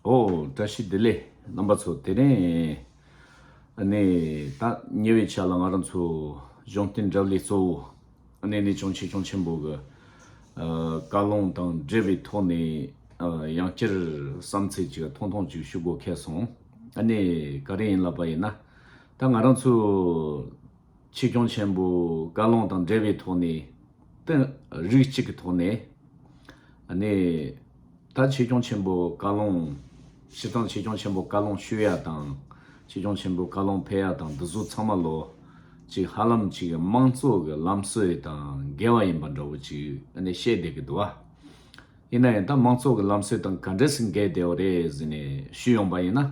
ཨོ། བཀྲ་ཤིས་བདེ་ལེགས་རྣམ་པ་ཚོ་དེ་རིང་ནས་ད་ཉེ་བའི་ཆ་ལ་ང་རང་ཚོ་གཞུང་བསྟེན་གྲབས་ལས་གཙོ་བོ་ནས་ནས་ཅུང་ཆེ་ཅུང་ཆེན་པོ་གི་བཀའ་ལུང་དང་འབྲེལ་བའི་ཐོག་ནས་ཡང་བསྐྱར་བསམ་ཚད་ཅིག་ཐུང་ཐུང་ཅིག་ཞུ་དགོས་ཁེལ་སོང། ག་རེ་ཡིན་ལབ་པ་ཡིན་ན་ད་ང་རང་ཚོ། ཆོས་སྐྱོང་ཆེན་པོའི་བཀའ་ལུང་དང་འབྲེལ་བའི་ཐོག་ནས་བསྟན། རིགས་གཅིག་གི་ཐོག་ནས་ནི། ད་ཆོས་སྐྱོང་ཆེན་པོའི་བཀའ་ལུང་ཞི་དང་ཆོས་སྐྱོང་ཆེན་པོའི་བཀའ་ལུང་ཤོད་ཡ་དང། ཆོས་སྐྱོང་ཆེན་པོའི་བཀའ་ལུང་འཕེལ་ཡ་དང་འདི་ཚོ་ཚང་མ་ལོ་གཅིག་ཧ་ལམ་གཅིག་གི་དམངས་གཙོ་གི་ལམ་སྲོལ་དང་འགལ་བ་ཡིན་པ་འདྲ་བོ་ཅིག་ནི་བཤད་བསྡད་ཀི་འདུག་བ། ཡིན་ན་ཡང་ད་དམངས་གཙོ་གི་ལམ་སྲོལ་དང་ག་འདྲ་ཞིག་འགལ་བསྡད་བོ་རེད་ཟེར་ནས་ཞུས་ཡོང་པ་ཡིན་ན་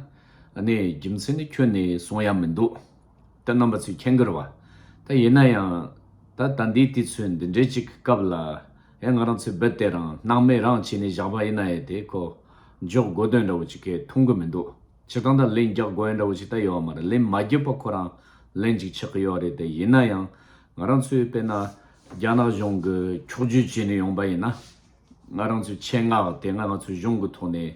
ནི་རྒྱུ་མཚན་ནི་ཁྱོད་ནི་གསུང་ཡ་མི་འདུག། ད་རྣམ་པ་ཚོས་ཁྱེད་འགར་བ། ད་ཡིན་ན་ཡང། ད་ལྟ་འདིའི་དུས་ཚོད་འདི་འདྲའི་ཅིག་གི་སྐབས་ལ། ཡང་ང་རང་ཚོའི་སྦིར་དེ་རང་སྣང་མེད་རང་བྱས་ནས་བཞག་པ་ཡིན་ན་ཡས་དེ་ཁོ། འཇོག་དགོས་དོན་འདྲ་བོ་ཅིག་གས་མཐོང་གི་མི་འདུག་ཕྱིར་འདང་དང་ལེན་རྒྱག་དགོས་ཡོན་འདྲ་བོ་ཅིག་ད་ཡོད་བ་མ་རེད་ལེན་མ་རྒྱག་པ་ཁོ་རང་ལེན་ཅིག་ཆགས་གི་ཡོད་བ་རེད་དེ་ཡིན་ན་ཡང། ང་རང་ཚོས་དཔེར་ན། རྒྱ་ནག་གཞུང་གི་འཁྱོག་བརྗོད་བྱས་ནས་ཡོང་པ་ཡིན་ན། ང་རང་ཚོའི་ཆེད་མངགས་དེ་སྔ་ང་ཚོའི་གཞུང་གི་ཐོག་ནས།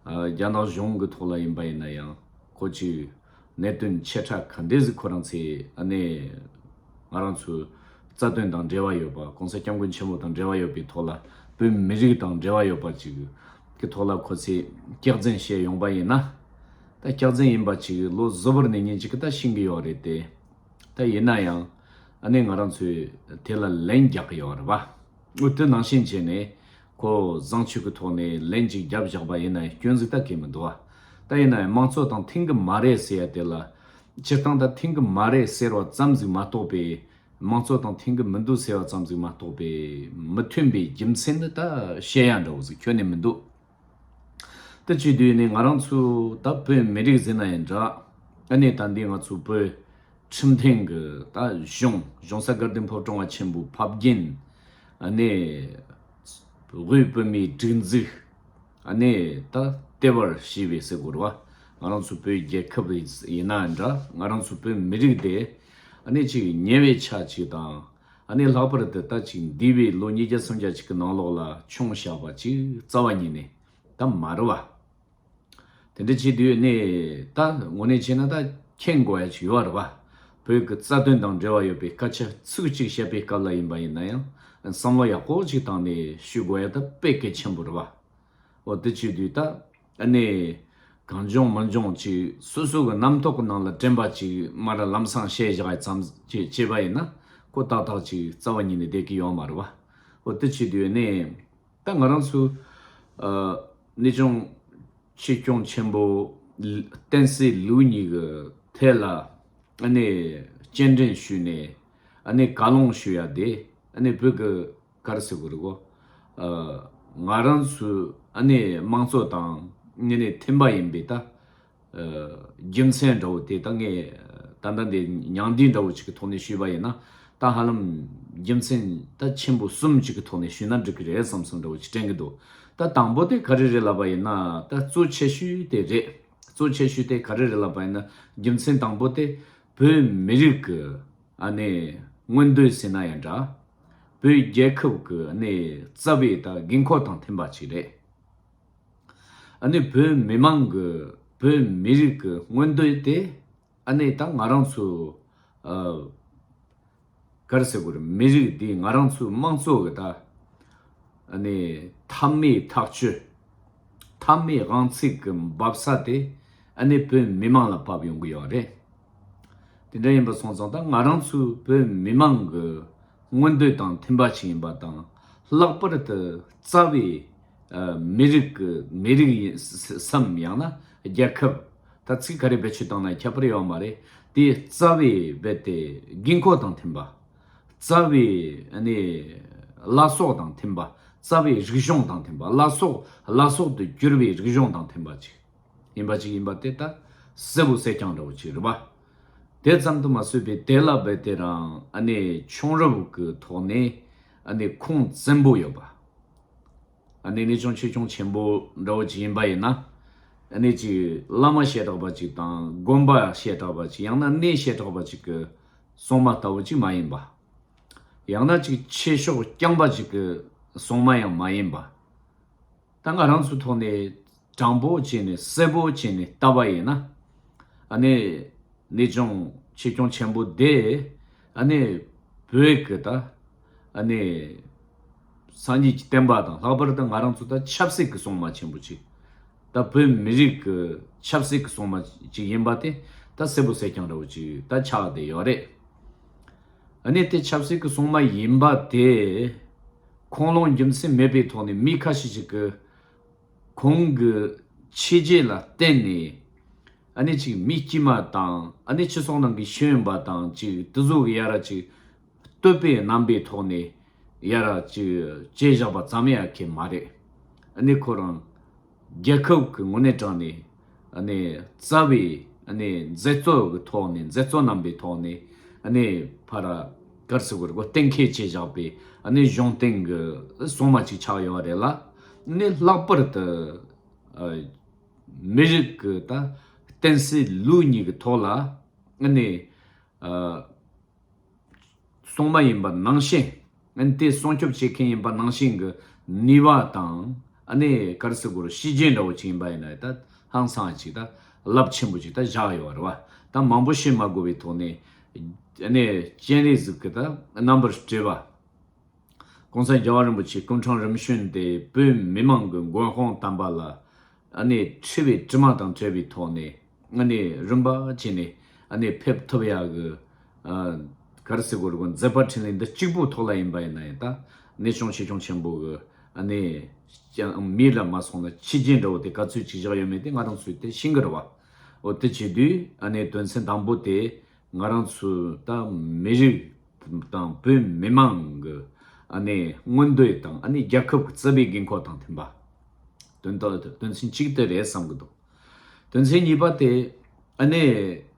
རྒྱ་ནག་གཞུང་གི་ཐོག་ལ་ཡིན་པ་ཡིན་ན་ཡང། ཁོ་ཅིག། གནད་དོན་ཆེ་ཕྲ་ག་འདྲས་ཟིག་ཁོ་རང་ཚེ་ཨ་ནེ། ང་རང་ཚོའི། རྩ་དོན་དང་འབྲེལ་བ་ཡོད་པ ྋགོང་ས་སྐྱབས་མགོན་ཆེན་པོ་དང་འབྲེལ་བ་ཡོད་པའི་ཐོག་ལ་བོད་མི་རིགས་དང་འབྲེལ་བ་ཡོད་པ་ཅིག་གི་ཐོག་ལ་ཁོ་ཚེ་སྐྱག་རྫིན་བཤད་ཡོང་པ་ཡིན་ན། ད་སྐྱག་རྫིན་ཡིན་པ་ཅིག་ལོ་བཟོ་བོར་ནས་ཉིན་ཅིག་གི་ད་ཤིང་གི་ཡོད་རེད་དེ། ད་ཡིན་ན་ཡང་ཨ་ནེ་ང་རང་ཚོས་དེ་ལ་ལན་རྒྱག་གི་ཡོད་རེད་བ། དངུལ་དོན་ནང་བཞིན་བྱས་ནས། ཁོ་བཟང་ཕྱུག་གི་ཐོག་ནས་ལན་གཅིག་རྒྱབ་བཞག་པ་ཡིན་ན་སྐྱོན་གཟིགས་ད་གི་མི་འདུག་ཨ། ད་ཡིན་ནའི་དམངས་གཙོ་དང་མཐུན་གི་མ་རེད་ཟེར་ཡ་དེ་ལ། སྤྱིར་བཏང་ད་མཐུན་གི་མ་རེད་ཟེར་བ་ཙམ་ཟིག་མ་གཏོགས་པས། དམངས་གཙོ་དང་མཐུན་གི་མི་འདུག་ཟེར་བ་ཙམ་ཟིག་མ་གཏོགས་པས། མི་མཐུན་པའི་རྒྱུ་མཚན་ནི་ད་བཤད་ཡ་འདྲ་བོ་ཟིག་ཁྱོན་ནས་མི་འདུག། ད་བཅུ་དུས་ནས་ང་རང་ཚོ་ད་བོད་མི་རིགས་ཟེར་ན་ཡང་འདྲ། ཨ་ནི་ད་འདི་ང་ཚོ་བོད། ཁྲིམས་ཐེངས་ཀྱི་ད་གཞུང་གཞུང་ས་དགའ་ལྡན་ཕོབ་ཀྲོང་བ་ཆེན་པོའི་ཕབ་རྒྱན་ནས་དབུས་བོད་མིའི་སྒྲིག་འཛུགས་ནས་ད་ལྟེ་བར་ཞི་བའི་སེ་གོར་བ་ང་རང་ཚོ་བོད་རྒྱལ་ཁབ་ཡིན་ན་འདྲ་ང་རང་ཚོ་བོད་མི་རིགས་དེ་གཅིག་ཉེ་བའི་ཆ་གཅིག་དང་ལྷག་པར་དུ་ད་ཅིག་འདས་པའི་ལོ་ཉིས་བརྒྱ་སུམ་བརྒྱ་ཅིག་གི་ནང་ལོགས་ལ་ཆུང་བྱ་བ་ཅིག་རྩ་བ་ཉིད་ནས་ད་མ་རེད་བ། དེ་འདྲ་བྱེད་དུས་ནས་ད་ངོ་ནས་བྱས་ན་ད་མཁྱེན་དགོས་ཡ་ཆུ་ཡོད་རེད་བ། བོད་ཀྱི་རྩ་དོན་དང་འབྲེལ་བ་ཡོད་པའི་སྐད་ཆ་ཚིག་གཅིག་བཤད་པའི་སྐབས་ལ་ཡིན་པ་ཡིན་ན་ཡང་བསམ་བློ་ཡག་པོ་ཅིག་བཏང་ནས་ཞུས་དགོས་ཡ་ད་དཔེ་གལ་ཆེན་པོ་རེད་བ། འོ་དེ་བྱེད་དུས་ད་ནས་གང་འབྱུང་མི་འབྱུང་ཅིག་སོ་སོ་གི་རྣམ་རྟོག་གི་ནང་ལ་དྲན་པ་ཅིག་མ་རེད་ལམ་སང་བཤད་བཞག་ཡ་ཙམ་ཅིག་བྱས་པ་ཡིན་ན་ཀོ་ཏག་ཏག་ཅིག་རྩ་བ་ཉིད་ནས་བསྡད་ཀྱི་ཡོད་མ་རེད་བ། འོ་དེ་བྱེད་དུས་ནས། ད་ང་རང་ཚོ་ནི་ཅུང་ཕྱི་སྐྱོང་ཆེན་པོ་བསྟན་སྲིད་ལུགས་གཉིས་ཀྱི་ཐད་ལ་སྤྱན་འདྲེན་ཞུས་ནས་བཀའ་སློང་ཞུ་ཡ་དེ་བོད་ཀྱི་གར་སི་གུ་རི་གོ། ང་རང་ཚོའི་དམངས་གཙོ་དང་མཐུན་པ་ཡིན་པས་ད་རྒྱུ་མཚན་འདྲ་བོ་དེ་ད་ངས་ད་ལྟ་འདི་མྱང་འདས་འདྲ་བོ་ཅིག་གི་ཐོག་ནས་ཞུས་པ་ཡིན་ན་ད་ཧ་ལམ་རྒྱུ་མཚན་ད་ཆེན་པོ་གསུམ་ཅིག་གི་ཐོག་ནས་ཞུས་ན་འགྲིག་གི་རེད་བསམ་བསམ་འདྲ་བོ་ཅིག་དྲན་གི་འདུག་ད་དང་པོ་དེ་ག་རེ་རེད་ལབ་པ་ཡིན་ན་ད་གཙོ་ཆེ་ཤོས་དེ་རེད་གཙོ་ཆེ་ཤོས་དེ་ག་རེ་རེད་ལབ་པ་ཡིན་ན་རྒྱུ་མཚན་དང་པོ་དེ་བོད་མི་རིགས་ཀྱི་ནས་མངོན་འདོད་ཟེར་ན་ཡང་འདྲ་བོད་རྒྱལ་ཁབ་ཀྱི་ནས་རྩ་བའི་ད་དགོས་མཁོ་དང་མཐུན་པ་ཅིག་རེད། ཨ་ནི་བོད་མི་མང་གི་བོད་མི་རིགས་ཀྱི་མངོན་འདོད་དེ་ཨ་ནི་ད་ང་རང་ཚོའི། གར་སེ་གོར་མི་རིགས་འདི་ང་རང་ཚོའི་དམངས་གཙོ་གི་ད་ཨ་ནི་མཐའ་མའི་ཐག་གཅོད། མཐའ་མའི་དབང་ཚིག་གི་འབབ་ས་དེ་ཨ་ནི་བོད་མི་མང་ལ་བབས་ཡོང་གི་ཡོད་རེད། དེ་འདྲ་ཡིན་པ་སོང་ཙང་ད་ང་རང་ཚོའི་བོད་མི་མང་གི་མངོན་འདོད་དང་མཐུན་པ་ཞིག་ཡིན་པ་དང་ལྷག་པར་དུ་རྩ་བའི། མི་རིགས་ཀྱི་མི་རིགས་ཡིན་སམ་ཡང་ན་རྒྱལ་ཁབ། ད་ཚིག་ག་རེ་བེད་སྤྱོད་བཏང་ན་ཁྱད་པར་ཡོད་མ་རེད་དེ་རྩ་བའི་རྦད་དེ་དགོས་མཁོ་དང་མཐུན་པ། རྩ་བའི་བླ་སྲོག་དང་མཐུན་པ་རྩ་བའི་རིག་གཞུང་དང་མཐུན་པ་བླ་སྲོག་བླ་སྲོག་ཏུ་གྱུར་བའི་རིག་གཞུང་དང་མཐུན་པ་ཅིག་ཡིན་པ་ཅིག་ཡིན་པ་དེ་ལྟ་གསལ་བོ་གསལ་རྐྱང་འདྲ་བོ་ཅིག་རེད་པ། དེ་ཙམ་དུ་མ་བཟོད་པའི་དེ་ལ་རྦད་དེ་རང་ཕྱོང་རབ་ཀྱི་ཐོག་ནས། ཨ་ནི་ཁུངས་བཙན་པོ་ཡོད་པ། ཨ་ནི་ནི་ཅུང་ཆེ་ཆུང་ཆེན་པོ་འདྲ་བོ་ཅིག་ཡིན་པ་ཡིན་ན། ཨ་ནི་ཅིག་བླ་མ་ཞེ་དྲག་པ་ཅིག་དང་དགོན་པ་ཞེ་དྲག་པ་ཅིག་ཡང་ན་གནས་ཞེ་དྲག་པ་ཅིག་གི་སྲུང་མ་ལྟ་བུ་ཅིག་མ་ཡིན་པ། ཡང་ན་ཅིག་ཆེ་ཤོག་རྐྱང་པ་ཅིག་གི་སྲུང་མ་ཡང་མ་ཡིན་པ། ད་ང་རང་ཚོའི་ཐོག་ནས་དྲང་པོ་བྱས་ནས་གསལ་པོ་བྱས་ནས་བལྟ་བ་ཡིན་ན། ཨ་ནི་ནི་ཅུང་ཆེ་སྐྱོང་ཆེན་པོ་དེ་ཨ་ནི་བོད་ཀྱི་ད་ཨ་ནི་སངས་རྒྱས་ཀྱི་བསྟན་པ་དང་ལྷག་པར་དུ་ང་རང་ཚོ་ད་ཆབ་སྲིད་ཀྱི་སྲུང་མ་ཆེན་པོ་གཅིག་ད་བོད་མི་རིགས་ཀྱི་ཆབ་སྲིད་ཀྱི་སྲུང་མ་གཅིག་ཡིན་པ་དེ་ད་གསལ་པོ་གསལ་རྐྱང་ར་བོ་གཅིག་ད་ཆགས་བསྡད་ཡོད་རེད། ཨ་ནི་དེ་ཆབ་སྲིད་ཀྱི་སྲུང་མ་ཡིན་པ་དེ། ཁོང་ལོངས་རྒྱུ་མཚན་མེད་པའི་ཐོག་ནས་མི་ཁ་ཤས་ཤིག་གིས་ཁོང་གི་ཕྱི་རྒྱལ་ལ་བརྟེན་ནས་ཨ་ནེ་ཅིག་མི་དཀྱུས་མ་དང་ཨ་ནེ་ཅི་སོགས་ནང་གི་ཤེས་ཡོན་པ་དང་ཅིག་དུ་གཟུགས་ཡ་ར་ཅིག་བསྟོད་པའི་རྣམ་པའི་ཐོག་ནས་ཡ་ར་ཅིག་དཔྱད་བཞག་པ་ཙམ་ཡ་ཁེ་མ་རེད་ཨ་ནེ་ཁོ་རང་རྒྱལ་ཁབ་ཀྱི་ངོས་ནས་དྲངས་ནས། རྩ་བའི་མཛད་གཙོ་གི་ཐོག་ནས་མཛད་གཙོ་རྣམ་པའི་ཐོག་ནས། ཕར་དཀར་སི་ཝེར་གོ་གཏན་འཁེལ་བྱས་བཞག་པའི་གཞུང་སྟེང་གི་སྲུང་མ་ཅིག་ཆགས་ཡོད་པ་རེད་ལ། ལྷག་པར་དུ། མི་རིགས་ཀྱི་བསྟན་སྲིད་ལུགས་གཉིས་ཀྱི་ཐོག་ལ། སྲུང་མ་ཡིན་པ་ནང་བཞིན་ཨནི་དེ་སྲུང་སྐྱོབ་བྱེད་མཁན་ཡིན་པ་ནང་བཞིན་གྱི་ནུས་པ་དང་ཨནི་ཀར་སི་གོར་གཤིས་རྒྱན་འདྲ་བོ་ཅིག་ཡིན་པ་ཡིན་ན་ད་ཧང་སངས་ཅིག་ད་རླབས་ཆེན་པོ་ཅིག་ད་བཞག་ཡོད་རེད་བ་ད་མང་པོ་བཤད་མ་དགོས་པའི་ཐོག་ནས་ཨནི་སྤྱན་རས་གཟིགས་ཀྱི་ད་རྣམ་པར་སྤྲས་པ ྋགོང་ས་རྒྱལ་བ་རིན་པོ་ཆེ་སྐུ་འཕྲང་རིམ་བྱོན་དེ་བོད་མི་མང་གི་མགོན་དཔུང་བསྟན་པ་ལ་ཨནི་འཁྲི་བའི་དྲི་མ་དང་བྲལ་བའི་ཐོག་ནས་ང་ནི་རིམ་པ་ཅན་ནས་གནས་ཕེབས་ཐུབ་ཡག་གི། ག་རེ་སི་གོ་རེ་གོ་མཛད་པ་འཕྲིན་ལས་འདི་གཅིག་པོ་ཐོག་ལ་ཡིན་པ་ཡིན་ན་ཡང་ད་གནས་ཆུང་ཆེ་ཆུང་ཆེན་པོ་གི་གནས་ཀྱང་མིའི་ལ་མ་སོང་ན་ཕྱི་རྒྱལ་འདྲ་བོ་དེ་ག་ཚོད་ཅིག་བཞག་ཡོད་མེད་དེ་ང་རང་ཚོའི་དེ་ཤིང་གི་ར་བ་འོ་དེ་བྱེད་དུས་དོན་ཚན་དང་པོ་དེ་ང་རང་ཚོའི་ད་མི་རིགས་དང་བོད་མི་མང་གི་མངོན་འདོད་དང་རྒྱལ་ཁབ་ཀྱི་རྩ་བའི་དགོས་མཁོ་དང་མཐུན་པ། དོན་དག་དོན་ཚན་གཅིག་དེ་རེད་བསམ་གི་འདུག། དོན་ཚན་གཉིས་པ་སྟེ། ཨ་ནེ།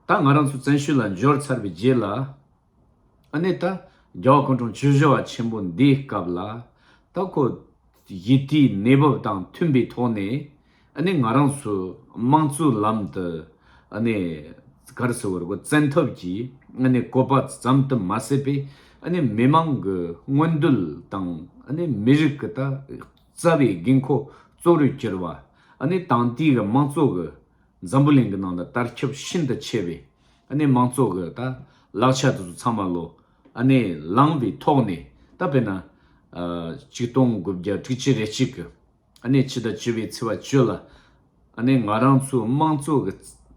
ད་ང་རང་ཚོ་བཙན་ཤུལ་ལ་འབྱོར་ཚར་བའི་རྗེས་ལ། ཨ་ནེ། ད་རྒྱ་བ་ཀོང་གྲོང་ཆུ་བཞི་བ་ཆེན་པོ་འདིའི་སྐབས་ལ། ད་ཁོ། ཡི་དེའི་གནས་བབ་དང་མཐུན་པའི་ཐོག་ནས། ཨ་ནེ། ང་རང་ཚོའི་དམངས་གཙོའི་ལམ་དུ། ཨ་ནེ། གར་སོ་བར་གོ་བཙན་ཐབས་ཀྱིས་ཨ་ནེ། བསྐོ་པ་ཙམ་དུ་མ་ཟད་པའི་ཨ་ནེ། མི་མང་གི་མངོན་འདོད་དང་ཨ་ནེ། མི་རིགས་ཀྱི་ད། རྩ་བའི་དགོས་མཁོ་གཙོ་བོར་གྱུར་བ་ནི་ཏང་དེ་གའི་མང་ཚོགས་ཀྱི་འཛམ་བུ་གླིང་གི་ནང་དུ་བསྟར་ཁྱབ་ཤིན་ཏུ་ཆེ་བས་མང་ཚོགས་ཀྱི་དང་ལག་ཆ་དེ་ཚོ་ཚང་མ་བློ་ལངས་པའི་ཐོག་ནས་ད་དཔེར་ན། གཅིག་སྟོང་དགུ་བརྒྱ་དྲུག་ཅུ་རེ་གཅིག་གིས་ཕྱི་ཟླ་བཅུ་བའི་ཚེས་བཅུ་ལ། ནས་ང་རང་ཚོའི་དམངས་གཙོ་གི་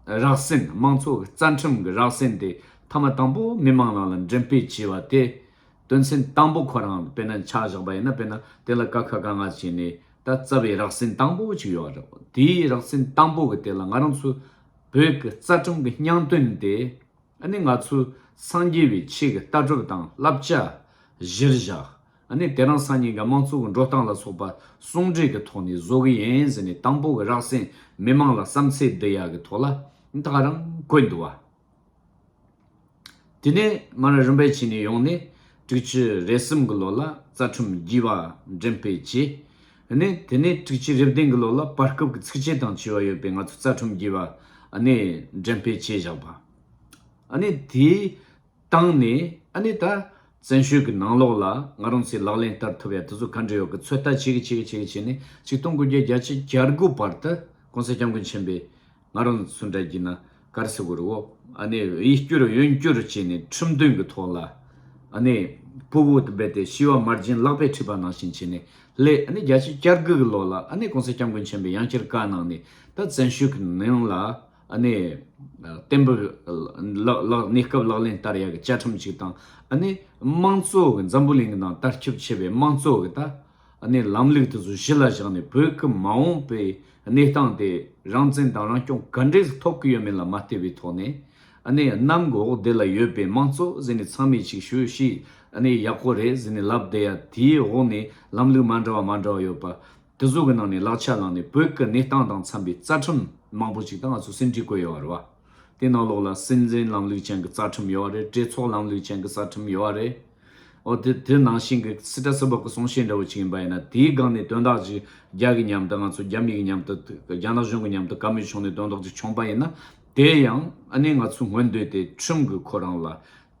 རགས་ཟིན་དམངས་གཙོ་གི་རྩ་ཁྲིམས་ཀྱི་རགས་ཟིན་དེ་མཐའ་མ་དང་པོ་མི་མང་རང་ལ་འགྲེམས་སྤེལ་བྱས་པ་དེ་དོན་ཚན་དང་པོ་ཁོ་རང་དཔེར་ན་ཆགས་བཞག་པ་ཡིན་ན་དཔེར་ན་དེ་ལ་ཀ་ཁ་ག་ང་བྱས་ནས་ད་རྩ་བའི་རགས་ཟིན་དང་པོ་གཅིག་ཡོད་རེད་དེའི་རགས་ཟིན་དང་པོ་གི་དེ་ལ་ང་རང་ཚོའི་བོད་ཀྱི་རྩ་ཁྲིམས་ཀྱི་སྙང་དོན་དེ་ནས་ང་ཚོའི་སངས་རྒྱས་པའི་ཆེད་ཀྱི་ལྟ་གྲུབ་དང་བསླབ་བྱ་གཞིར་བཞག་ནས་དེ་རང་སང་ཉིན་ག་དམངས་གཙོ་གི་འགྲོ་སྟངས་ལ་སོགས་པ་ཟུང་འབྲེལ་གི་ཐོག་ནས་བཟོ་གི་ཡིན་ཟེར་ནས་དང་པོ་གི་རགས་ཟིན་མི་མང་ལ་བསམ་ཚེ་འདི་ཡག་གི་ཐོག་ལ་འཐག་རང་བཀོད་འདུག་བ། དེ་ནས་ང་རང་རིམ་པས་ཕྱི་ནས་ཡོང་ནས་དྲུག་ཅུ་རེ་གསུམ་གི་ལོ་ལ་རྩ་ཁྲིམས་བགྱིས་པ་འགྲེམས་སྤེལ་བྱས། ནས་དེ་ནས་དྲུག་ཅུ་རེ་བདུན་གི་ལོ་ལ་བར་སྐབས་ཀྱི་ཚིགས་བཅད་དང་བྱིས་བ་ཡོད་པའི་ང་ཚོ་རྩ་ཁྲིམས་བགྱིས་པ་ནས་འགྲེམས་སྤེལ་བྱས་བཞག་པ། ནས་དེའི། བཏང་ནས་ཨ་ནི་ད་བཙན་བྱོལ་གྱི་ནང་ལོགས་ལ་ང་རང་ཚོས་ལག་ལེན་བསྟར་ཐུབ་ཡ་དེ་ཚོ་ག་འདྲ་ཡོད་གི་ཚོད་ལྟ་བྱེད་གི་བྱེད་གི་བྱེད་གི་བྱས་ནས་ཆིག་སྟོང་དགུ་བརྒྱ་བརྒྱ་ཆའི་གྱ་དགུ་བར་དུ་གོང་ས་སྐྱབས་མགོན་ཆེན་པོས་ང་རང་ཚོ་འདྲ་གྱི་ན་གར་སི་བོར་འོག་ཨ་ནི་ཡིད་བསྐྱུར་ཡོན་བསྐྱུར་བྱས་ནས་ཁྲིམས་མཐུན་གྱི་ཐོག་ལ་ཨ་ནི་སྤུ་བོ་དུ་སྦས་ཏེ་ཤི་བ་མར་སྦྱིན་བརླག་པའི་ཁྲིད་པ་ནང་བཞིན་བྱས་ནས་སླེ་ཨ་ནི་བརྒྱ་ཆའི་གྱ་དགུ་གི་ལོགས་ལ་ཨ་ནི་གོང་ས་སྐྱབས་མགོན་ཆེན་པོས་ཡང་བསྐྱར་བཀའ་གནང་ནས་ད་བཙན་བྱོལ་གྱི་ནང་ལ། གནས་བརྟན་པོས་གནས་སྐབས་ལག་ལེན་བསྟར་ཡག་གི་བཅའ་ཁྲིམས་གཅིག་དང། དམངས་གཙོ་གི་འཛམ་བུ་གླིང་གི་ནང་ལྟར་ཁྱབ་ཆེ་བའི་དམངས་གཙོ་གི་ལམ་ལུགས་དེ་ཚོ་གཞི་ལ་བཞག་ནས་བོད་ཀྱི་མ་འོངས་པའི་གནས་སྟངས་དེ་རང་བཙན་དང་རང་སྐྱོང་ག་འདྲས་སུ་ཐོབ་ཀྱི་ཡོད་མེད་ལ་མ་བལྟས་པའི་ཐོག་ནས། གནམ་འོག་བདེ་ལ་ཡོད་པའི་དམངས་གཙོ་ཟེར་ནས་ཚང་མས་ཅིག་ཞུ་ཞིག་ཡག་པོ་རེད་ཟེར་ནས་ལབ་བསྡད་ཡ་དེའི་འོག་ནས་ལམ་ལུགས་མ་འདྲ་བ་མ་འདྲ་བ་ཡོད་པ། དེ་གཟུགས་ཀྱི་ནང་ནས་ལག་ཆ་བླངས་ནས་བོད་ཀྱི་གནས་སྟངས་དང་འཚམས་པའི་རྩ་ཁྲིམས་མང་པོ་ཞིག་དང་ང་ཚོ་སེམས་ཁྲལ་བཀོད་ཡོད་པ་རེད་བ། དེ་ནང་ལོགས་ལ་སྲིད་འཛིན་ལམ་ལུགས་ཅན་གྱི་རྩ་ཁྲིམས་ཡོད་བ་རེད་གྲོས་ཚོགས་ལམ་ལུགས་ཅན་གྱི་རྩ་ཁྲིམས་ཡོད་བ་རེད། འོ་དེ་དེ་ནང་བཞིན་གྱི་སི་ཏྲ་སི་བོད་ཀྱི་གསུང་བཤད་འདྲ་བོ་ཅིག་ཡིན་པ་ཡིན་ན་དེའི་སྒང་ནས་དོན་དག་ཅིག་རྒྱ་གི་མཉམ་དུ་ང་ཚོ་རྒྱ་མི་གི་མཉམ་དུ་རྒྱ་ནག་གཞུང་གི་མཉམ་དུ་ག་མེད་བྱུང་ནས་དོན་དག་ཅིག་བྱུང་པ་ཡིན་ན་དེ་ཡང་ཨ་ནེ་ང་ཚོའི་ངོ་འདོད་དེ་ཁྲིམས་ཀྱི་ཁོ་རང་ལ་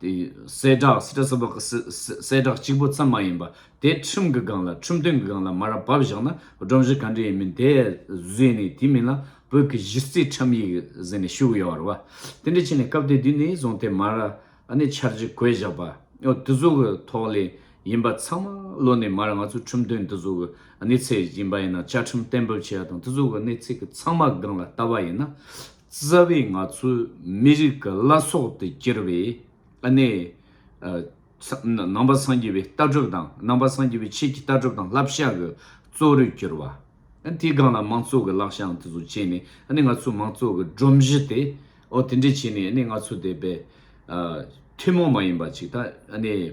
དེ་གསལ་བསྒྲགས་སི་ཏྲ་ས་བབ་ཀྱི་སི་གསལ་བསྒྲགས་གཅིག་པུ་ཙམ་མ་ཡིན་པ་དེ་ཁྲིམས་ཀྱི་སྒང་ལ་ཁྲིམས་དོན་གྱི་སྒང་ལ་མ་ར་བབས་བཞག་ན་སྒྲོམ་གཞི་ག་འདྲའི་ཡིན་མིན་དེ་བཟོས་ནས་དེ་མིན་ལ་བོད་ཀྱི་གཞི་རྩའི་ཁྲིམས་ཡིག་ཟེར་ནས་བཞུགས་ཡོད་བར་བ་དེ་འདྲ་བྱས་ནས་སྐབས་དེ་དུས་ནས་བཟུང་སྟེ་མ་ར་ནས་འཆར་གཞི་བཀོད་བཞག་པ་དེ་ཚོ་གི་ཐོག་ལས་ཡིན་པ་ཚང་མ་བློ་ནས་མ་ར་ང་ཚོའི་ཁྲིམས་དོན་དེ་ཚོ་གི་གནས་ཚད་ཡིན་པ་ཡིན་ན་བཅའ་ཁྲིམས་གཏན་འབེབས་བྱས་པ་དང་དེ་ཚོ་གི་གནས་ཚད་ཀྱི་ཚང་མ་སྒང་ལ་བལྟ་བ་ཡིན་ན་རྩ་བའི་ང་ཚོ་མི་རིགས་ཀྱི་བླ་སྲོག་ཏུ་གྱུར་བའི་ཨ་ནེ། ནང་པ་སངས་རྒྱས་པའི་ལྟ་གྲུབ་དང་ནང་པ་སངས་རྒྱས་པའི་ཆེད་ཀྱི་ལྟ་གྲུབ་དང་བསླབ་བྱ་གྱི་གཙོ་རུ་གྱུར་བ། དེའི་སྒང་ལ་མང་གཙོ་གྱི་བསླབ་བྱའང་དེ་ཚོ་སྤྱད་ནས་ཨ་ནེ་ང་ཚོ་མང་གཙོ་གྱི་སྒྲོམ་གཞི་དེ་འོ་དེ་འདྲས་བྱས་ནས་ཨ་ནེ་ང་ཚོ་དེ་བས། ཐུན་མོང་མ་ཡིན་པ་ཅིག་ད་ཨ་ནེ།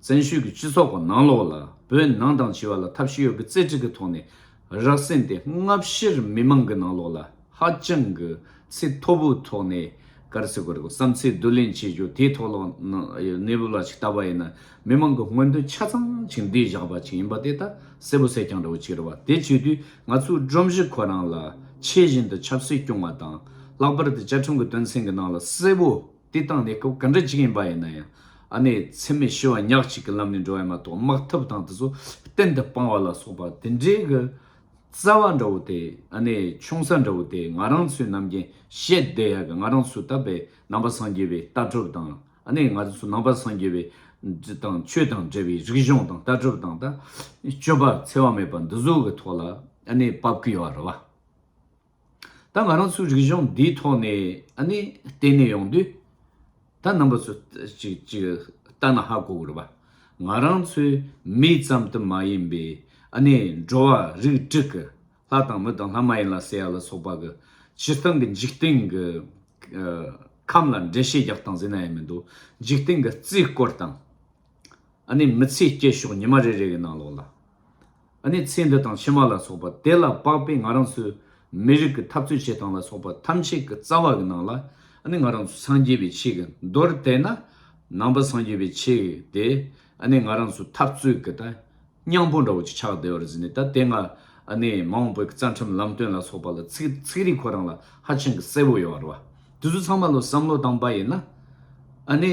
བཙན་ཤུལ་གྱི་སྤྱི་ཚོགས་ཁོ་ནང་ལོགས་ལ་བོད་ནང་དང་བྱི་བ་ལ་ཐབས་ཤེས་ཡོད་ཀྱི་རྩེ་གྲིག་གི་ཐོག་ནས་རག་བསྲིངས་ཏེ་སྔ་ཕྱིར་མི་མང་གི་ནང་ལོགས་ལ་ཧ་ཅང་གི་ཚིག་མཐོ་པོའི་ཐོག་ནས་གར་སི་གོ་རི་གོ་བསམ་ཚིག་བསྡུ་ལེན་བྱེད་རྒྱུ་དེའི་ཐོག་ལོགས་ན་གནས་བབ་ལ་ཅིག་བལྟ་བ་ཡིན་ན་མི་མང་གི་སྔོན་འདོན་ཆ་ཚང་ཅིག་འདིས་བཞག་པ་ཅིག་ཡིན་པ་དེ་ད་གསལ་པོ་གསལ་རྐྱང་རེད་བ་ཅིག་རེད་བ་དེ་བྱེད་དུས་ང་ཚོའི་སྒྲོམ་གཞི་ཁོ་རང་ལ་ཆེས་བཞིན་དུ་ཆབ་སྲིད་སྐྱོང་བ་དང་ལྷག་པར་དུ་བཅའ་ཁྲིམས་ཀྱི་དོན་ཚན་གྱི་ནང་ལ་གསལ་པོ། དེ་བཏང་ནས་སྐབས་ག་འདྲ་ཅིག་ཡིན་པ་ཡིན་ན་ཡང། ཨ་ནེ་ཚེ་མེད་ཤི་བ་ཉག་ཅིག་གི་ལམ་ནས་འགྲོ་བ་ཡིན་མ་གཏོགས་དམག་འཐབ་དང་དེ་ཚོ་གཏན་དུ་སྤང་བ་ལ་སོགས་པ་དེ་འདྲའི་གི། རྩ་བ་འདྲ་བོ་དེ་ཨ་ནེ་ཆུང་ས་འདྲ་བོ་དེ་ང་རང་ཚོའི་ནམ་རྒྱན་བཤད་བསྡད་ཡག་གི་ང་རང་ཚོ་ད་བས་ནང་པ་སངས་རྒྱས་པའི་ལྟ་གྲུབ་དང་ཨ་ནེ་ང་ཚོ་ནང་པ་སངས་རྒྱས་པའི་དང་ཆོས་དང་འབྲེལ་བའི་རིག་གཞུང་དང་ལྟ་གྲུབ་དང་ད་སྤྱོད་པ་འཚེ་བ་མེད་པ་འདི་ཚོ་གི་ཐོག་ལ་ཨ་ནེ་བབ་ཀི་ཡོད་རེད་བ། ད་ང་རང་ཚོའི་རིག་གཞུང་འདིའི་ཐོག་ནས་ནི་བལྟས་ནས་ཡོང་དུས། ད་རྣམ་པ་ཚོ་ཅིག་ཅིག་ལྟ་ན་ཧ་གོ་དགོས་པ། ང་རང་ཚོའི་མི་ཙམ་དུ་མ་ཡིན་པའི་ནི་འགྲོ་བ་རིགས་དྲུག་གི་ལྷ་དང་མི་དང་ལྷ་མ་ཡིན་ལ་སྲས་ཡ་ལ་སོགས་པ་གི་སྤྱིར་བཏང་གི་འཇིག་རྟེན་གྱི་ཁམས་ལ་འགྲེལ་བཤད་རྒྱག་སྟངས་ཟེར་ན་ཡང་མི་འདུག་འཇིག་རྟེན་གྱི་རྩིས་སྐོར་དང། ཨ་ནི་མི་ཚེའི་སྐྱེད་ཤོག་ཉི་མ་རེ་རེ་གི་ནང་ལོགས་ལ། ཨ་ནི་ཚེ་འདི་དང་ཕྱི་མ་ལ་སོགས་པ་དེ་ལ་དཔག་པའི་ང་རང་ཚོའི་མི་རིགས་ཀྱི་འཐབ་རྩོད་བྱེད་སྟངས་ལ་སོགས་པ་ཐམས་ཅད་ཀྱི་རྩ་བ་གི་ནང་ལ་ཨ་ནི་ང་རང་ཚོ་སངས་རྒྱས་པའི་ཆེད་ཀྱི་མདོར་དེད་ན་ནང་པ་སངས་རྒྱས་པའི་ཆེད་དེ་ཨ་ནི་ང་རང་ཚོའི་འཐབ་རྩོད་ཀྱི་ད་སྙང་པོ་འདྲ་བོ་ཅིག་ཆགས་བསྡད་པར་གཟིགས་ནས་ད་དེ་སྔ་ཨ་ནི་མ་འོངས་པའི་རྩ་ཁྲིམས་ལམ་སྟོན་ལ་སོགས་པ་ལ་ཚིག་རིས་ཁོ་རང་ལ་ཧ་ཅང་གི་གསལ་བོ་ཡོད་བར་བ་དེ་ཚོ་ཚང་མ་ལོ་བསམ་བློ་བཏང་པ་ཡིན་ན་ཨ་ནི།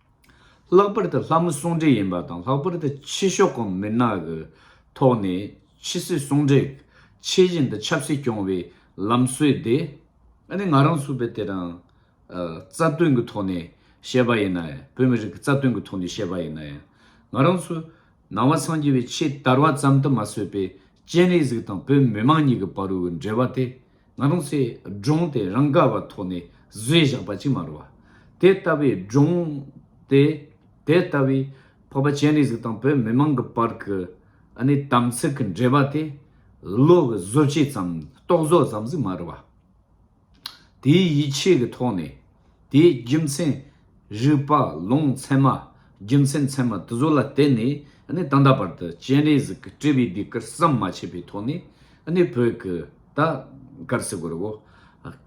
ལྷག་པར་དུ་ལྷ་མོ་སྲུང་འདྲེ་ཡིན་པ་དང་ལྷག་པར་དུ་ཕྱི་ཕྱོགས་གོང་མི་ནག་གི་ཐོག་ནས་ཕྱི་སྲིད་སྲུང་འདྲེ། ཆེ་བཞིན་དུ་ཆབ་སྲིད་སྐྱོང་བའི་ལམ་སྲོལ་དེ། ཨ་ནི་ང་རང་ཚུད་པའི་དེ་རང་རྩ་དོན་གྱི་ཐོག་ནས་བཤད་པ་ཡིན་ན་ཡང་བོད་མི་རིགས་ཀྱི་རྩ་དོན་གྱི་ཐོག་ནས་བཤད་པ་ཡིན་ན་ཡང། ང་རང་ཚོ་ནང་བ་ཚང་སྐྱེ་བའི་ཆེས་དར་བ་ཙམ་དུ་མ་བཟོད་པའི་སྤྱན་རས་གཟིགས་དང་བོད་མི་དམངས་གཉིས་ཀྱི་བར་དབུའི་འབྲེལ་བ་དེ། ང་རང་ཚོས་སྒྲུང་དེ་རང་དགར་བ་ཐོག་ནས་བཟོས་བཞག་པ་ཅིག་མ་རུང་བ། དེ་ལྟ་བུའི་སྒྲུང་དེ། དེ་ལྟ་བུའི་འཕགས་པ་སྤྱན་རས་གཟིགས་དང་བོད་མི་མང་གི་བར་གྱི་ཨ་ནེ་དམ་ཚིག་གི་འབྲེལ་བ་དེ། བློ་གི་བཟོ་བྱེད་ཙམ་རྟོག་བཟོ་ཙམ་ཟིག་མ་རུང་བ། དེའི་ཡིད་ཆེས་ཀྱི་ཐོག་ནས། དེའི་རྒྱུ་མཚན། རིག་པ་ལུང་ཚད་མ་རྒྱུ་མཚན་ཚད་མ་དེ་ཚོ་ལ་བརྟེན་ནས་ནི་ད་ལྟ་བར་དུ་སྤྱན་རས་གཟིགས་ཀྱི་སྤྲུལ་པའི་སྡེ་ཁུར་ཟམ་མ་ཆད་པའི་ཐོག་ནས་ནི་བོད་ཀྱི་ད་གར་སི་གོར་བོ་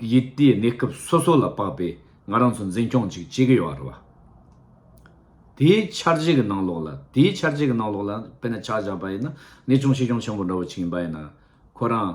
ཡི་དེའི་གནས་སྐབས་སོ་སོ་ལ་དཔགས་པའི་ང་རང་ཚོ་འཛིན་སྐྱོང་ཅིག་བྱེད་ཀྱི་ཡོད་རེད་བ། དེའི་འཆར་གཞི་གྱི་ནང་ལོགས་ལ་དེའི་འཆར་གཞི་གྱི་ནང་ལོགས་ལ་དཔེར་ན་ཕྱག་བཞག་པ་ཡིན་ན་ནི་ཅུང་ཆེ་ཆུང་ཆེན་པོ་འདྲ་བོ་ཅིག་ཡིན་པ་ཡིན་ན་ཁོ་རང་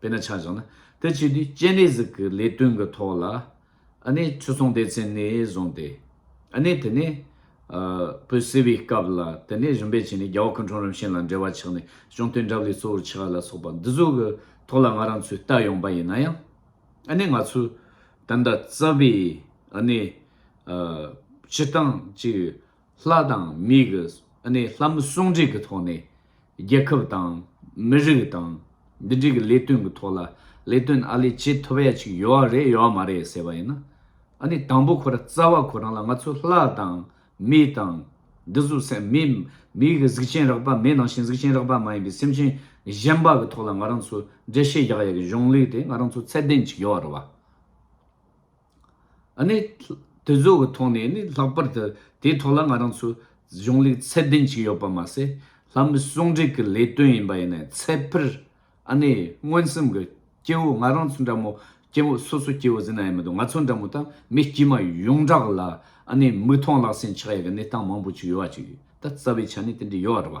དཔེར་ན་ཆ་བཞག་ན་དེ་བྱས་དུས་སྤྱན་རས་གཟིགས་ཀྱི་ལས་དོན་གྱི་ཐོག་ལ་ནས་ཆོས་སྲུང་སྡེ་ཚན་ནས་བཟུང་སྟེ། ནས་དེ་ནས་བོད་སེལ་བའི་སྐབས་ལ་དེ་ནས་རིམ་པས་བྱས་ནས་རྒྱ་བོད་སྐུ་འཁྲུངས་རིམ་བྱོན་ལ་འབྲེལ་བ་ཆགས་ནས་གཅོང་སྟོན་འདྲ་བ་ལས་གཙོ་བོར་ཆགས་ལ་སོགས་པ་འདི་ཚོ་གི་ཐོག་ལ་ང་རང་ཚོས་བལྟ་ཡོང་པ་ཡིན་ན་ཡང། ནས་ང་ཚོས་དེ་འདྲ་རྩ་བའི་ནས་སྤྱི་སྟངས་ཅིག། ལྷ་དང་མི་གི་ནས་ལྷ་མི་ཟུང་འབྲེལ་གྱི་ཐོག་ནས་རྒྱལ་ཁབ་དང། མི་རིགས་དང། འདི་འདྲའི་གི་ལས་དོན་གྱི་ཐོག་ལ་ལས་དོན་ཨ་ལས་བྱེད་ཐུབ་ཡ་ཅིག་ཡོད་བ་རེད་ཡོད་བ་མ་རེད་ཟེར་བ་ཡིན་ན། ཨ་ནི་དང་པོ་ཁོ་ར་རྩ་བ་ཁོ་རང་ལ་ང་ཚོ་ལྷ་དང། མི་དང། འདི་གཟུགས་སེམས་མི། མི་གི་གཟུགས་ཅན་རགས་པ་མེད་ནང་བཞིན་གཟུགས་ཅན་རགས་པ་མ་ཡིན་པའི་སེམས་ཅན་གཞན་པ་གི་ཐོག་ལ་ང་རང་ཚོ་འགྲེལ་བཤད་རྒྱག་ཡ་གི་གཞུང་ལུགས་དེ་ང་རང་ཚོ་ཚད་ལྡན་ཅིག་ཡོད་བ་རེད་བ། དེ་བཟོ་བའི་ཐོག་ནས་ནི་ལྷག་པར་དུ་དེའི་ཐོག་ལ་ང་རང་ཚོ་གཞུང་ལུགས་ཚད་ལྡན་ཞིག་ཡོད་པ་མ་ཟད་ལྷ་མི་ཟུང་འབྲེལ་གྱི་ལས་དོན་ཡིན་པ་ཡིན་ནས་ཚད་ཕེར་ཨ་ནེ་མངོན་སུམ་གྱི་སྐྱེ་བོ་ང་རང་ཚོ་འདྲ་མོ་སྐྱེ་བོ་སོ་སོ་སྐྱེ་བོ་ཟེར་ན་ཡག་མི་འདུག་ང་ཚོ་འདྲ་མོ་དང་མི་དཀྱུས་མ་ཡོངས་གྲགས་ལ་ཨ་ནེ་མིག་མཐོང་ལག་ཟིན་ཆགས་ཡས་ཀྱི་གནས་སྟངས་མང་པོ་ཆུ་ཡོད་བ་ཅིག་ཡོད་ད་རྩ་བའི་ཆ་ནས་དེ་འདྲ་ཡོད་རེད་བ།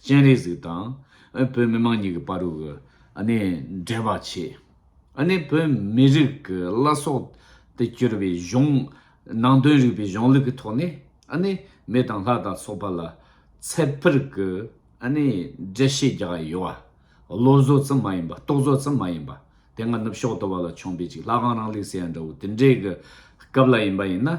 སྤྱན་རས་གཟིགས་དང། བོད་མི་མང་གཉིས་ཀྱི་དཔའ་རུ། འདྲེས་པར་བྱེད། བོད་མི་རིགས་ཀྱི་བླ་སྲོག་ཏུ་གྱུར་པའི་གཞུང། ནང་དོན་རིག་པའི་གཞུང་ལུགས་ཀྱི་ཐོག་ནས། མི་དང་ལྷ་དང་སོག་པ་ལ། ཚད་ཕུར་གྱི། འགྲེལ་བཤད་རྒྱག་ཡ་ཡོད། བློ་བཟོ་ཙམ་མ་ཡིན་པ། རྟོག་བཟོ་ཙམ་མ་ཡིན་པ། དེ་སྔ་ནུབ་ཕྱོགས་ཏུ་བ་ལ་འཆོངས་པའི་ཅིག་ལྷ་ཁང་རང་ལེགས་ཟེར་ཡ་འདྲ་བོ་དེ་འདྲའི་གི་སྐབས་ལ་ཡིན་པ་ཡིན་ན།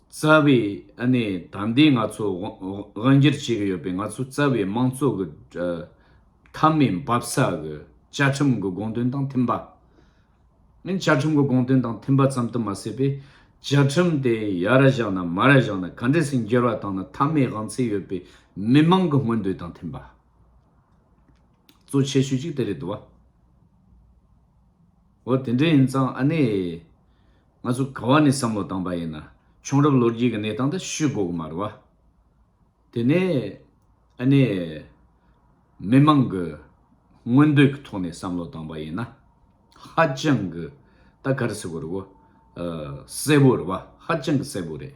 རྩ་བའི་ད་ལྟའི་ང་ཚོ་དབང་སྒྱུར་བྱེད་ཀྱི་ཡོད་པའི་ང་ཚོའི་རྩ་བའི་དམངས་གཙོ་གི་མཐའ་མའི་འབབ་ས་གི་བཅའ་ཁྲིམས་ཀྱི་དགོངས་དོན་དང་མཐུན་པ། བཅའ་ཁྲིམས་ཀྱི་དགོངས་དོན་དང་མཐུན་པ་ཙམ་དུ་མ་ཟད་པའི་བཅའ་ཁྲིམས་དེ་ཡར་བཞག་ན་མར་བཞག་ན་ག་འདྲ་སུ་འགྱུར་བ་བཏང་ན་མཐའ་མའི་དབང་ཚད་ཡོད་པའི་མི་མང་གི་མངོན་འདོད་དང་མཐུན་པ། གཙོ་ཆེ་ཤོས་གཅིག་དེ་རེད་དོ། འོ་དེ་འདྲ་ཡིན་ཙང་ཨ་ནེ། ང་ཚོ་ག་བ་ནས་བསམ་བློ་བཏང་པ་ཡིན་ན་བྱུང་རབས་ལོ་རྒྱུས་ཀྱི་གནས་སྟངས་དེ་ཤུད་དགོས་ཀྱི་མ་རེད་བ། དེ་ནས་ཨ་ནེ། མི་མང་གི་མངོན་འདོད་ཀྱི་ཐོག་ནས་བསམ་བློ་བཏང་པ་ཡིན་ན། ཧ་ཅང་གི་ད་ག་རེ་ཟེར་དགོས་རེད་བ། གསལ་བོ་རེད་བ་ཧ་ཅང་གི་གསལ་བོ་རེད།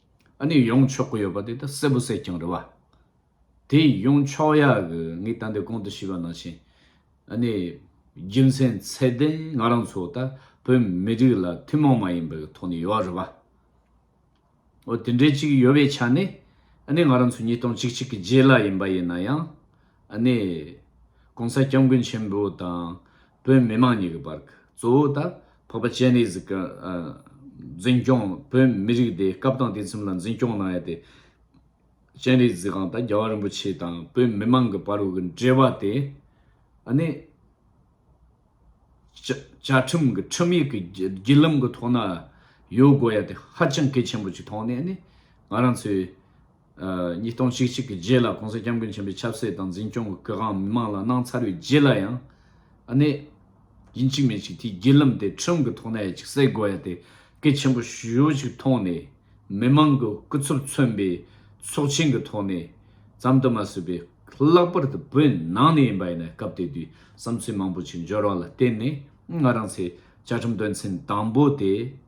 ཨ་ནི་ཡོང་ཆོག་གི་ཡོད་པ་དེ་ད་གསལ་པོ་གསལ་ཀྱང་རེད་བ། དེ་ཡོང་ཆོག་ཡ་གི་ངས་ད་འདི་གོང་དུ་ཤེས་པ་ནང་བཞིན་ཨ་ནི་རྒྱུ་མཚན་ཚད་ལྡན་ང་རང་ཚོ་ད་བོད་མི་རིགས་ལ་ཐུན་མོང་མ་ཡིན་པའི་ཐོག་ནས་ཡོད་རེད་བ། འོ་དེ་འདྲའི་ཅིག་ཡོད་པའི་ཆ་ནས་ཨ་ནི་ང་རང་ཚོ་ཉིས་སྟོང་ཅིག་ཅིག་གི་རྗེས་ལ་ཡིན་པ་ཡིན་ན་ཡང་ཨ་ནི ྋགོང་ས ྋསྐྱབས་མགོན་ཆེན་པོ་དང། བོད་མི་དམངས་གཉིས་ཀྱི་བར་གྱི་གཙོ་བོ་དང་ཕག་པ་ཅན་རིགས་གཟིགས་འཛིན་སྐྱོང་བོད་མི་རིགས་དེ་སྐབས་དང་དུས་མཚམས་ལ་འཛིན་སྐྱོང་གནང་ཡ་དེ། ཅན་རིགས་གཟིགས་ཁང་དང་རྒྱལ་བ་རིན་པོ་ཆེ་དང་བོད་མི་དམངས་ཀྱི་བར་དབུ་གྱི་འབྲེལ་བ་དེ། ནི། བཅའ་ཁྲིམས་ཀྱི་ཁྲིམས་ཡིག་གི་བརྒྱུད་ལམ་གྱི་ཐོག་ན་ཡོད་དགོས་ཡ་དེ་ཧ་ཅང་གལ་ཆེན་པོ་ཞིག་མཐོང་ནས་ནི་ང་རང་ཚོའི། ཉིས་སྟོང་ཆིག་ཅིག་གི་རྗེས་ལ་གོང་ས་སྐྱབས་མགོན་ཆེན་པོའི་ཆབ་སྲིད་དང་འཛིན་སྐྱོང་གི་གོ་གང་མི་མང་ལ་གནང་ཚར་བའི་རྗེས་ལ་ཡང། ཨ་ནེ། ཡིན་གཅིག་མིན་གཅིག་དེའི་བརྒྱུད་ལམ་དེ་ཁྲིམས་ཀྱི་ཐོག་ནས་ཡ་གཅིག་སེལ་དགོས་ཡ་དེ་གལ་ཆེན་པོ་ཞུ་ཞིག་ཐོག་ནས་མི་མང་གི་སྐུ་ཚབ་མཚོན་པའི་ཚོགས་ཆེན་གྱི་ཐོག་ནས་ཙམ་དུ་མ་ཟོས་པའི་ལྷག་པར་དུ་བོད་ནང་ནས་ཡིན་པ་ཡིན་ན་སྐབས་དེ་དུས་བསམ་ཚུལ་མང་པོ་ཆེ་འབྱོར་བ་ལ་བརྟེན་ནས་ང་རང་ཚོས་བཅའ་ཁྲིམས་དོན་ཚན་དང་པོ་དེ།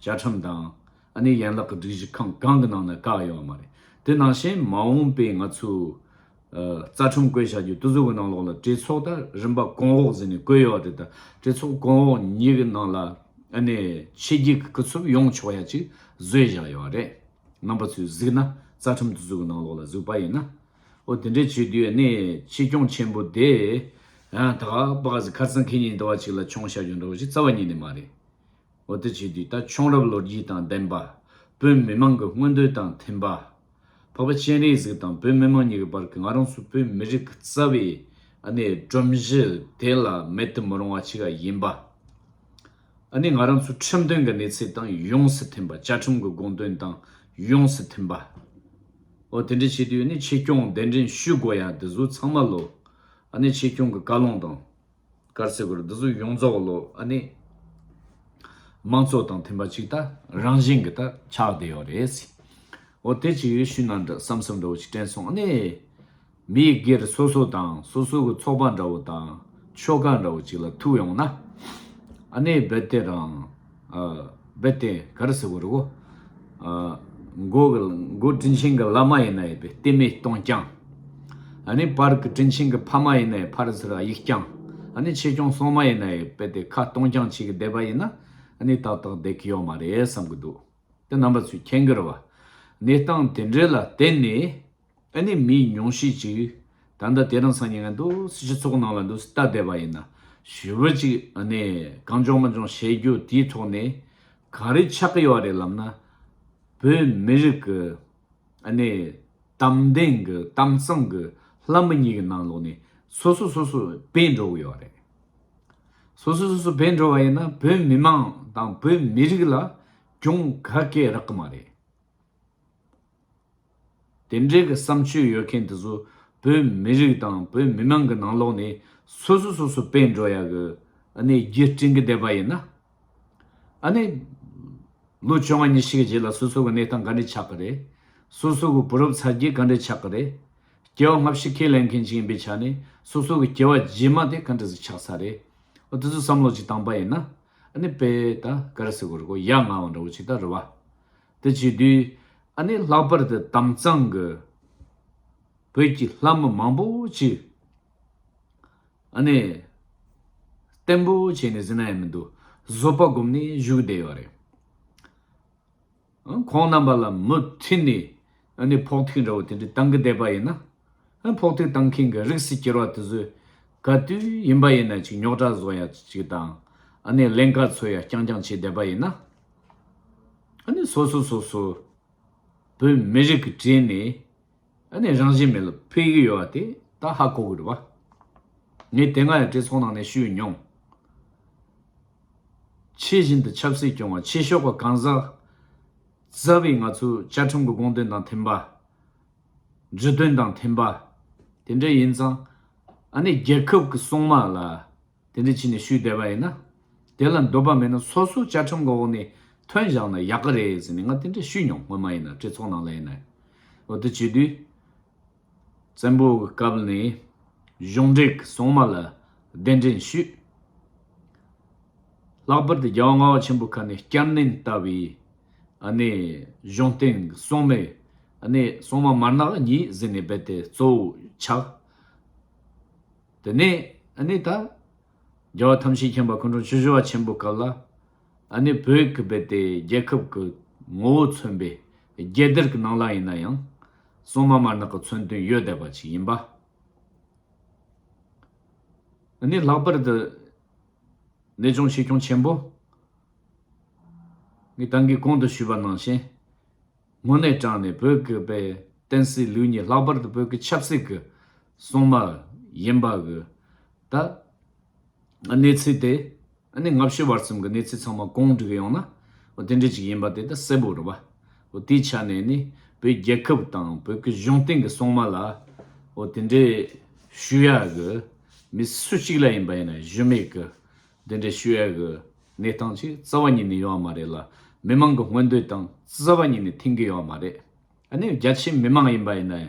བཅའ་ཁྲིམས་དང། ཨ་ནེ་ཡན་ལག་གི་སྒྲིག་གཞི་ཁང་གང་གི་ནང་ནས་བཀག་ཡོང་བ་མ་རེད། དེ་ནང་བཞིན་མ་འོངས་པའི་ང་ཚོའི། རྩ་ཁྲིམས་བཀོད་བྱ་རྒྱུ་གཏུ་གཟུགས་གི་ནང་ལོགས་ལ་གྲོས་ཚོགས་ད་རིམ་པ་གོང་འོག་ཟེར་ནས་བཀོད་ཡོད་དེ་ད་གྲོས་ཚོགས་གོང་འོག་གཉིས་ཀྱི་ནང་ལ་ཨ་ནེ་ཆེ་རྒྱུགས་ཀྱི་སྐུ་ཚབ་ཡོང་ཆོག་ཡ་གཅིག་བཟོས་བཞག་ཡོད་རེད། རྣམ་པ་ཚོས་གཟིགས་ན་རྩ་ཁྲིམས་བསྡུ་ཚུགས་ནང་ལོགས་ལ་གཟིགས་པ་ཡིན་ན། ཨོ་དེ་འདྲས་བྱེད་དུས་ནས་ཕྱི་སྐྱོང་ཆེན་པོ་དེ། ད་ཁ་པ་གཟིགས་ཁར་ཙང་ཁེ་ཉིན་དུ་བ་ཅིག་ལ་ཆོང་བཤའ་རྒྱུ་འདྲ་བོ་ཞིག་རྩ་བ་ཉིད་ནས་མ་རེད། ཨོ་དེ་བྱེད་དུས་ད་ཆོང་རབས་ལོ་རྒྱུས་དང་ལྡན་པ། བོད་མི་མང་གི་མངོན་འདོད་དང་མཐུན་པ། འཕགས་པ་སྤྱན་རས་གཟིགས་དང་བོད་མི་མང་གཉིས་ཀྱི་བར་གྱི་ང་རང་ཚོ་བོད་མི་རིགས་ཀྱི་རྩ་བའི། ཨ་ནེ་སྒྲོམ་གཞི་དེ་ལ་མེད་དུ་མི་རུང་བ་ཅིག་ཡིན་པ། ཨ་ནི་ང་རང་ཚོའི་ཁྲིམས་དོན་གྱི་གནས་ཚད་དང་ཡོངས་སུ་མཐུན་པ་བཅའ་ཁྲིམས་ཀྱི་དགོངས་དོན་དང་ཡོངས་སུ་མཐུན་པ། འོ་དེ་འདྲ་བྱེད་དུས་ཨ་ནི་ཆེད་སྐྱོང་གདན་འདྲེན་ཞུ་དགོས་ཡ་འདི་ཟུ་ཚང་མ་ལོ། ཨ་ནི་ཆེད་སྐྱོང་གི་བཀའ་ལུང་དང། སྐར་ཚེ་སྒོར་འདི་ཟུ་ཡོངས་རྫོགས་ལོ་ཨ་ནི། དམངས་གཙོ་དང་མཐུན་པ་ཅིག་ད་རང་བཞིན་གྱི་ད་ཆགས་བསྡད་ཡོད་རེད། འོ་དེ་ཅི་ཡོད་ཞུས་ན་འདྲ་བསམ་བསམ་འདྲ་བོ་ཅིག་དྲན་སོང་ཨ་ནི། མི་སྒེར་སོ་སོ་དང་སོ་སོ་གི་ཚོགས་པ་འདྲ་བོ་དང་ཆོལ་ཁ་འདྲ་བོ་ཅིག་ལ་ཐུག་ཡོང་ན། ཨ་ནེ་རྦད་ལྟེ་རང། རྦད་ལྟེ་ག་རེ་ཟེར་བོ་རེད་གོ། མགོ་གི་མགོ་དྲིན་ཆེན་གི་བླ་མ་ཡིན་ན་ཡིན་པས་ལྟེ་མེད་སྟོང་རྐྱང། ཨ་ནེ་བར་གི་དྲིན་ཆེན་གི་ཕ་མ་ཡིན་ན་ཡིན་ཕར་ཟེར་ཨ་ཡིག་རྐྱང། ཨ་ནེ་ཆེ་ཆུང་སོང་མ་ཡིན་ན་ཡིན་རྦད་དེ་ཁ་སྟོང་རྐྱང་བྱེད་ཀི་བསྡད་པ་ཡིན་ན་ཨ་ནེ་ཏག་ཏག་བསྡད་ཀི་ཡོད་མ་རེད་བསམ་གི་འདུག་དེ་རྣམ་པ་ཚོས་མཁྱེན་གི་རེད་བ། གནས་སྟངས་དེ་འདྲའི་ལ་བརྟེན་ནས་ཨ་ནི་མི་ཉུང་ཤས་ཅིག་ད་ལྟ་དེ་རང་སང་ཉལ་འདུག་སྲིད་སྤྱི་ཚོགས་ནང་ལ་འདུག་སྲིད་ལྟ་བསྡད་པ་ཡིན། ཞི་བུ་ཅིག་ཨ་ནི་གང་བྱུང་མ་བྱུང་བཤད་རྒྱུ་དེའི་ཐོག་ནས་ག་རེ་ཆགས་ཀྱི་ཡོད་རེད་ལབ་ན། བོད་མི་རིགས་ཀྱི་ཨ་ནི་གཏམ་བདེན་གྱི་གཏམ་གཙང་གི་ལྷ་མི་གཉིས་ཀྱི་ནང་ལོགས་ནས་སོ་སོ་སོ་སོ་བེད་འགྲོ་གི་ཡོད་རེད། སོ་སོ་སོ་སོ་བེད་འགྲོ་བ་ཡིན་ན་བོད་མི་མང་དང་བོད་མི་རིགས་ལ་གྱོང་ག་སྐྱེ་རག་གི་མ་རེད། དེ་འདྲའི་གི་བསམ་སྤྱོད་ཡོད་མཁན་དེ་ཚོ་བོད་མི་རིགས་དང་བོད་མི་མང་གི་ནང་ལོག་ནས་སོ་སོ་སོ་སོ་བེད་འགྲོ་ཡག་གི་ཨ་ནེ་རྒྱུ་སྤྲིང་གི་བསྡད་པ་ཡིན་ན། ཨ་ནེ། ལོ་བཅོ་ལྔ་ཉི་ཤི་གི་རྗེས་ལ་སོ་སོ་གི་གནས་སྟངས་ག་འདྲས་ཆགས་གི་རེད། སོ་སོ་གི་བུ་རབས་ཚ་རྒྱུད་ག་འདྲས་ཆགས་གི་རེད། སྐྱེ་བ་སྔ་ཕྱི་ཁས་ལེན་མཁན་ཞིག་ཡིན་པའི་ཆ་ནས་སོ་སོ་གི་སྐྱེ་བ་རྗེས་མ་དེ་ག་འདྲས་སུ་ཆགས་ས་རེད། ཨོ་དེ་ཚོ་བསམ་བློ་གཅིག་བཏང་པ་ཡིན་ན། ཨ་ནེ་བེད་ད་ག་རེ་སེ་གོ་རེ་གོ་ཡ་ང་བ་འདྲ་བོ་ཅིག་ད་རེད་བ། དེ་བྱས་དུས་ཨ་ནེ་ལྷག་པར་དུ་དམ་གཙང་གི་བོད་ཀྱི་ལྷ་མི་མང་པོ་ཞིག་ཨ་ནེ། བརྟན་པོ་བྱས་ནས་ཟིན་ན་ཡང་མི་འདུག་བཟོད་པ་སྒོམ་ནས་བཞུགས་བསྡད་ཡོད་རེད། ཁོང་རྣམ་པ་ལ་མུ་མཐུད་ནས་ཨ་ནེ་ཕོག་ཐུག་འདྲ་བོ་དེ་འདྲ་བཏང་གི་བསྡད་པ་ཡིན་ན། ཕོག་ཐུག་བཏང་མཁན་གྱི་རིགས་སུ་གྱུར་བ་དེ་ཚོས་ག་དུས་ཡིན་པ་ཡིན་ན་ཅིག་ཉོག་དྲ་བཟོ་ཡག་ཅིག་དང་ཨ་ནེ་ལན་ག་ཚོད་ཡག་རྐྱང་རྐྱང་བྱས་བསྡད་པ་ཡིན་ན། ནི་སོ་སོ་སོ་སོ་བོད་མི་རིགས་ཀྱི་གྲས་ནས་ནི་རང་བཞིན་མེད་ལ་ཕེབས་ཀྱི་ཡོད་པ་དེ་ད་ཧ་གོ་དགོས་རེད་བ། ངས་དེ་སྔ་ཡང་གྲོས་ཚོགས་ནང་ནས་ཞུས་མྱོང། ཕྱི་བཞིན་དུ་ཆབ་སྲིད་སྐྱོང་བ་ཕྱི་ཤོག་པ་གང་ཟག་རྩ་བའི་ང་ཚོའི་བཅའ་ཁྲིམས་ཀྱི་དགོངས་དོན་དང་མཐུན་པ། ཇུས་དོན་དང་མཐུན་པ། དེ་འདྲ་ཡིན་ཙང་ནི་རྒྱལ་ཁབ་ཀྱི་སྲུང་དམག་ལ་དེ་འདྲ་བྱས་ནས་ཞུས་བསྡད་པ་ཡིན་ན། དེ་ལ་འདོད་པ་མེད་ན་སོ་སོ་བཅའ་ཁྲིམས་འོག་ནས་ཐོན་བཞག་ན་ཡག་གི་རེད་ཟེར་ནས་ང་དེ་འདྲ་ཞུས་མྱོང་སྔོན་མ་ཡིན་ན་གྲོས་ཚོགས་ནང་ལ་ཡིན་ནའི་འོག་ཏུ་བྱས་དུས། བཙན་པོ་གི་སྐབས་ནས་གཞུང་འབྲེལ་གྱི་སྲུང་མ་ལ་གདན་འདྲེན་ཞུས། ལྷག་པར་དུ་རྒྱལ་བ་ལྔ་བ་ཆེན་པོ་ཁ་ནས་བསྐྱར་ནན་ལྟ་བུའི་གནས་གཞུང་སྟེང་གི་སྲུང་མའི་གནས་སྲུང་མ་མར་ནག་གཉིས་ཟེར་ནས་རྦད་དེ་གཙོ་བོ་ཆགས། དེ་ནས་ཨ་ནི་ད། རྒྱལ་བ་ཐམས་ཅད་མཁྱེན་པ་སྐུ་འཁྲུངས་ཆུ་བཞི་བ་ཆེན་པོའི་སྐབས་ལ། ཨ་ནི་བོད་ཀྱི་རྦད་དེ་རྒྱལ་ཁབ་ཀྱི་ངོ་བོ་མཚོན་པའི་རྒྱལ་དར་གྱི་ནང་ལ་ཡིན་ན་ཡང། སྲུང་མ་དམར་ནག་གི་མཚོན་དོན་ཡོད་བསྡད་པ་ཅིག་ཡིན་པ། ཨ་ནི་ལྷག་པར་དུ། གནས་ཆུང་ཆེ་ཁྱུང་ཆེན་པོ། ངས་ད་གིས་གོང་དུ་ཞུས་པ་ནང་བཞིན། སྔོན་ནས་དྲངས་ནས་བོད་ཀྱི་རྦད་དེན་སྲིད་ལུགས་ཉིད་ལྷག་པར་དུ་བོད་ཀྱི་ཆབ་སྲིད་ཀྱི་སྲུང་མ་ཡིན་པ་གི། ད། གནས་ཚུལ་དེ། ཨ་ནི་སྔ་ཕྱི་བར་གསུམ་གི་གནས་ཚུལ་ཚང་མ་གང་འགྲིག་ཡོང་ན། དེ་འདྲའི་ཅིག་ཡིན་པ་དེ་ད་གསལ་པོ་རེད་བ། དེའི་ཆ་ནས་ནི། བོད་རྒྱལ་ཁབ་དང་བོད་ཀྱི་གཞུང་སྟེང་གི་སྲུང་མ་ལ། དེ་འདྲའི། ཞུ་ཡ་གི། མི་སུ་གཅིག་ལ་ཡིན་པ་ཡིན་ན་གཞི་མེད་གི། དེ་འདྲའི་ཞུ་ཡ་གི། གནས་སྟངས་ཅིག་རྩ་བ་ཉིད་ནས་ཡོང་བ་མ་རེད་ལ། མི་མང་གི་མངོན་འདོད་དང་རྩ་བ་ཉིད་ནས་མཐུན་གི་ཡོང་བ་མ་རེད། ཨ་ནི་རྒྱ་ཆེའི་མི་མང་ཡིན་པ་ཡིན་ན།